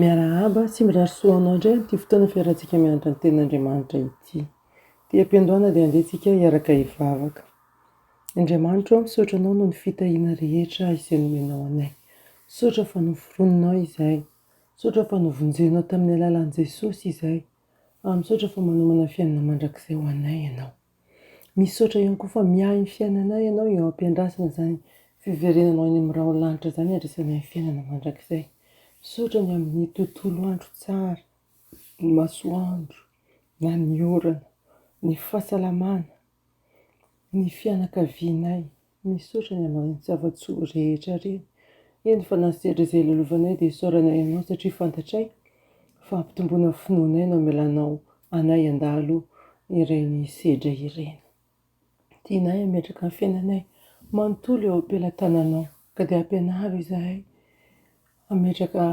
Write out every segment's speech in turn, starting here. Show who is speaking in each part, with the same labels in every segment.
Speaker 1: Miarahaba sy mirary soa ho anao indray amin'ity fotoana fiarahantsika mianatra ny Tenin'Andriamanitra ity. Ity am-piandohana dia andeha isika hiaraka hivavaka. Andriamanitro ô, misaotra Anao noho ny fitahiana rehetra izay nomenao anay. Misaotra fa noforoninao izahay. Misaotra fa novonjenao tamin'ny alalan'i Jesosy izahay. Ary misaotra fa manomana fiainana mandrakizay ho anay Ianao. Misaotra ihany koa fa miahy ny fiainanay ianao eo ampiandrasana izany fiverenanao any amin'ny rahona lanitra izany handraisanay ny fiainana mandrakizay. Misaotra ny amin'ny tontolo andro tsara, ny masoandro na ny orana, ny fahasalamana, ny fianakavianay. Misaotra ny amin'ireny zava-tsoa rehetra ireny. Eny fa na sedra izay ilalovanay dia isaoranay Anao satria fantatray fa hampitomboana finoanay no hamelanao anay handalo ireny sedra ireny. Tianay hametraka ny fiainanay manontolo eo am-pelatananao ka dia ampianaro izahay hametraka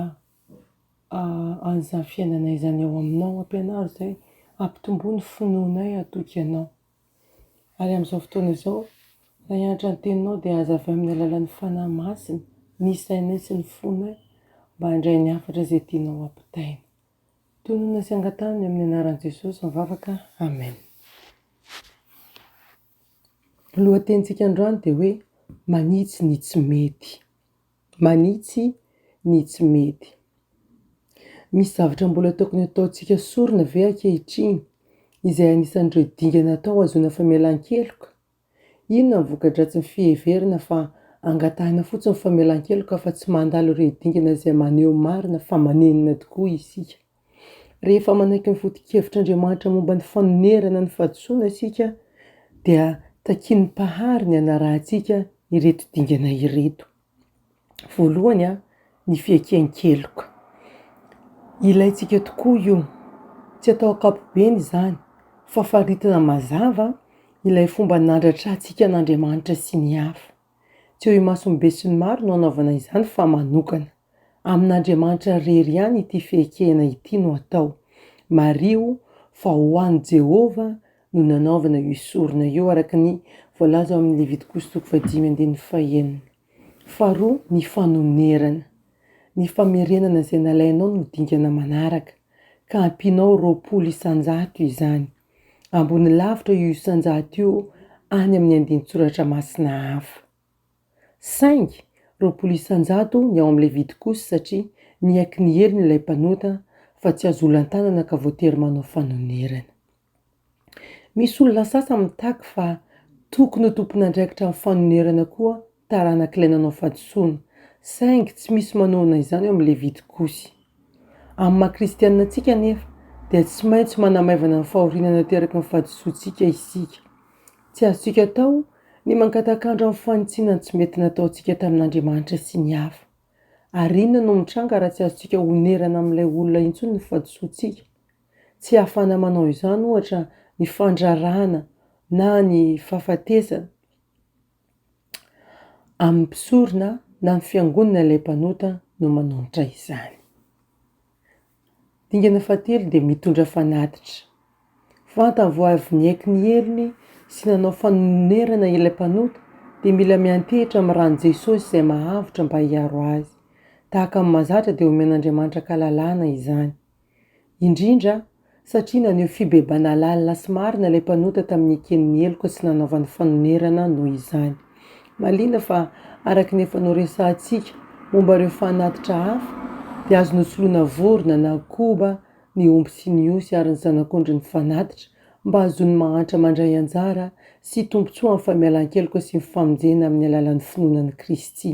Speaker 1: an'izany fiainanay izany eo aminao. Ampianaro izahay hampitomboa ny finoanay hatoky Anao. Ary amin'izao fotoana izao, raha hianatra ny Teninao, dia aza avy amin'ny alalan'ny Fanahy Masina ny sainay sy ny fonay mba handray ny hafatra izay tianao hampitaina. Tononina sy angataho ny amin'ny anaran'i Jesosy mivavaka. Amen. Ny lohatenintsika androany dia hoe, Manitsy ny tsy mety. Manitsy ny tsy mety. Misy zavatra mbola tokony hataontsika sorona ve ankehitriny, izay anisan'ireo dingana atao hahazoana famelan-keloka? Inona ny voka-dratsin'ny fiheverana fa angatahina fotsiny famelan-keloka fa tsy mandalo ireo dingana izay maneho marina fa manenina tokoa isika? Rehefa manaiky ny foto-kevitr'Andriamanitra momba ny fanonerana ny fahadisoana isika, dia takian'ny Mpahary ny hanarahantsika ireto dingana ireto. Voalohany, ny fiekehan-keloka. Ilaintsika tokoa io. Tsy atao ankapobeny izany, fa faritina mazava ilay fomba nandratrantsika an'Andriamanitra sy ny hafa. Tsy eo imason'ny besinimaro no hanaovana izany fa manokana. Amin'Andriamanitra irery ihany ity fiekena ity no atao. Mariho fa ho an'i Jehovah no nanaovana io sorona io, araka ny voalaza ao amin'ny Levitikoso toko fahadimy andininy fahenina. Faharoa, ny fanonerana. Ny famerenana izay nalainao no dingana manaraka, ka ampianao roapolo isan-jato izany. Ambony lavitra io isan-jato io any amin'ny andinin-tsoratra masina hafa. Saingy roapolo isan-jato ny ao amin'ilay vidy kosa satria niaiky ny helony ilay mpanota fa tsy azo olan-tanana ka voatery manao fanonerana. Misy olona sasany mitaky fa tokony ho tompon'andraikitra amin'ny fanonerana koa taranak'ilay nanao fahadisoana, saingy tsy misy manohana izany ao amin'ny Levitikosy. Amin'ny maha-kristianina antsika anefa, dia tsy maintsy manamaivana ny fahoriana nateraky ny fahadisoantsika isika. Tsy azontsika atao ny mangatakandra amin'ny fanitsiana ny tsy mety nataontsika tamin'Andriamanitra sy ny hafa. Ary inona no mitranga raha tsy azontsika onerana amin'ilay olona intsony ny fahadisoantsika? Tsy hahafahana manao izany, ohatra, ny fandraràna na ny fahafatesana amin'ny mpisorona na ny fiangonana ilay mpanota no manonitra izany. Dingana fahatelo dia mitondra fanatitra. Vantany vao avy niaiky ny helony sy nanao fanonerana ilay mpanota dia mila miantehitra amin'ny ran'i Jesosy izay mahavotra mba hiaro azy. Tahaka ny mahazatra dia omen'Andriamanitra an-kalalahana izany. Indrindra, satria naneho fibebahana lalina sy marina ilay mpanota tamin'ny neken'ny heloka sy nanaovany fanonerana noho izany. Mahaliana fa araka ny efa noresahantsika momba ireo fanatitra hafa dia azo nosoloana vorona na koba ny omby sy ny osy ary ny zanak'ondry ny fanatitra mba hahazoany mahantra mandray anjara sy tombontsoa amin'ny famialan-keloka sy ny famonjena amin'ny alalan'ny finoana an'i Kristy.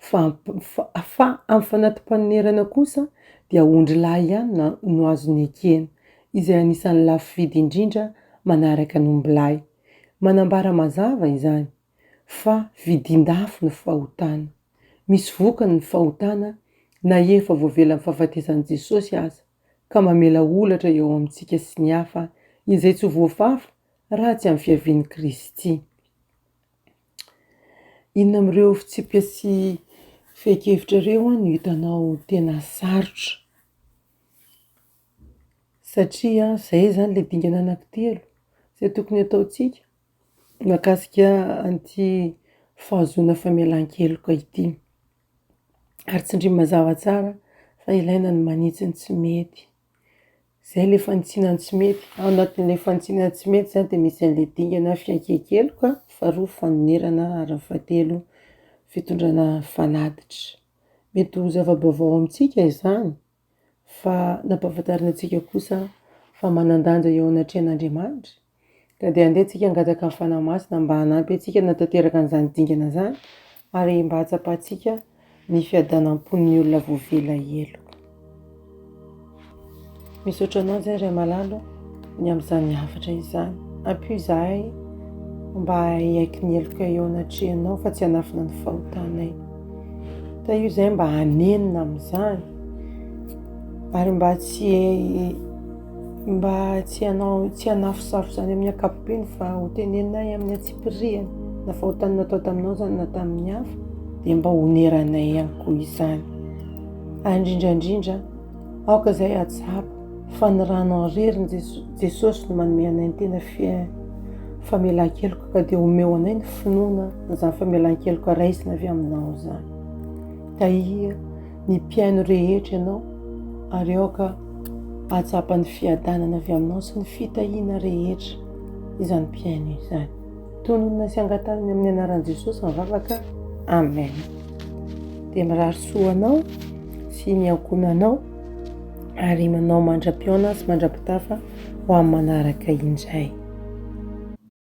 Speaker 1: fa fa amin'ny fanati-panonerana kosa dia ondry lahy ihany na no azony ekena, izay anisan'ny lafo vidy indrindra manaraka ny ombilahy. Manambara mazava izany, fa vidin-dafo ny fahotana. Misy vokany ny fahotana na efa voavelan'ny fahafatesan'i Jesosy aza, ka mamela olatra eo amintsika sy ny hafa, izay tsy ho voafafa raha tsy amin'ny fiavian'i Kristy. Inona amin'ireo fitsipika sy fehin-kevitra ireo no hitanao tena sarotra? Satria izay izany ilay dingana anankitelo izay tokony ataontsika mahakasika an'ity fahazoana famelan-keloka ity. Ary tsindrio mazava tsara fa ilaina ny manitsy ny tsy mety. Izay ilay fanitsina ny tsy mety. Ao anatin'ilay fanitsina ny tsy mety izany dia misy an'ilay dingana fiaikiaikeloka, faharoa fanonerana ary ny fahatelo fitondrana fanatitra. Mety ho zava-baovao amintsika izany fa nampahafantarina antsika kosa fa manan-danja eo anatrehan'Andriamanitra Ka dia andeha antsika hangataka ny Fanahy Masina mba hanampy antsika hanatanteraka an'izany dingana izany ary mba hahatsapantsika ny fiadanam-pon'ny olona voavela heloka. Misaotra anao izay Ray Malalo ny amin'izany hafatra izany. Ampio izahay mba haiky ny heloka eo anatrehanao fa tsy hanafina ny fahotanay. Tahio izay mba hanenina amin'izany ary mba tsy Mba tsy hanao tsy hanafosafo izany amin'ny ankapobeny fa ho teneninay amin'ny antsipirihany na fahotany natao taminao izany na tamin'ny hafa dia mba honeranay ihany koa izany. Ary indrindra indrindra, aoka izay hatsapa fa ny ranao irery ny Jesosy no manome anay ny tena famelan-keloka ka dia omeo anay ny finoana izany famelan-keloka raisina avy aminao izany. Tahia ny mpihaino rehetra ianao, ary aoka hahatsapa ny fiadanana avy aminao sy ny fitahiana rehetra izany mpihaino izany. Tononina sy angatanina amin'ny anaran'i Jesosy ny vavaka. Amen. Dia mirary soa anao sy ny ankohonanao ary manao mandra-pihaona sy mandra-pitafa ho amin'ny manaraka indray.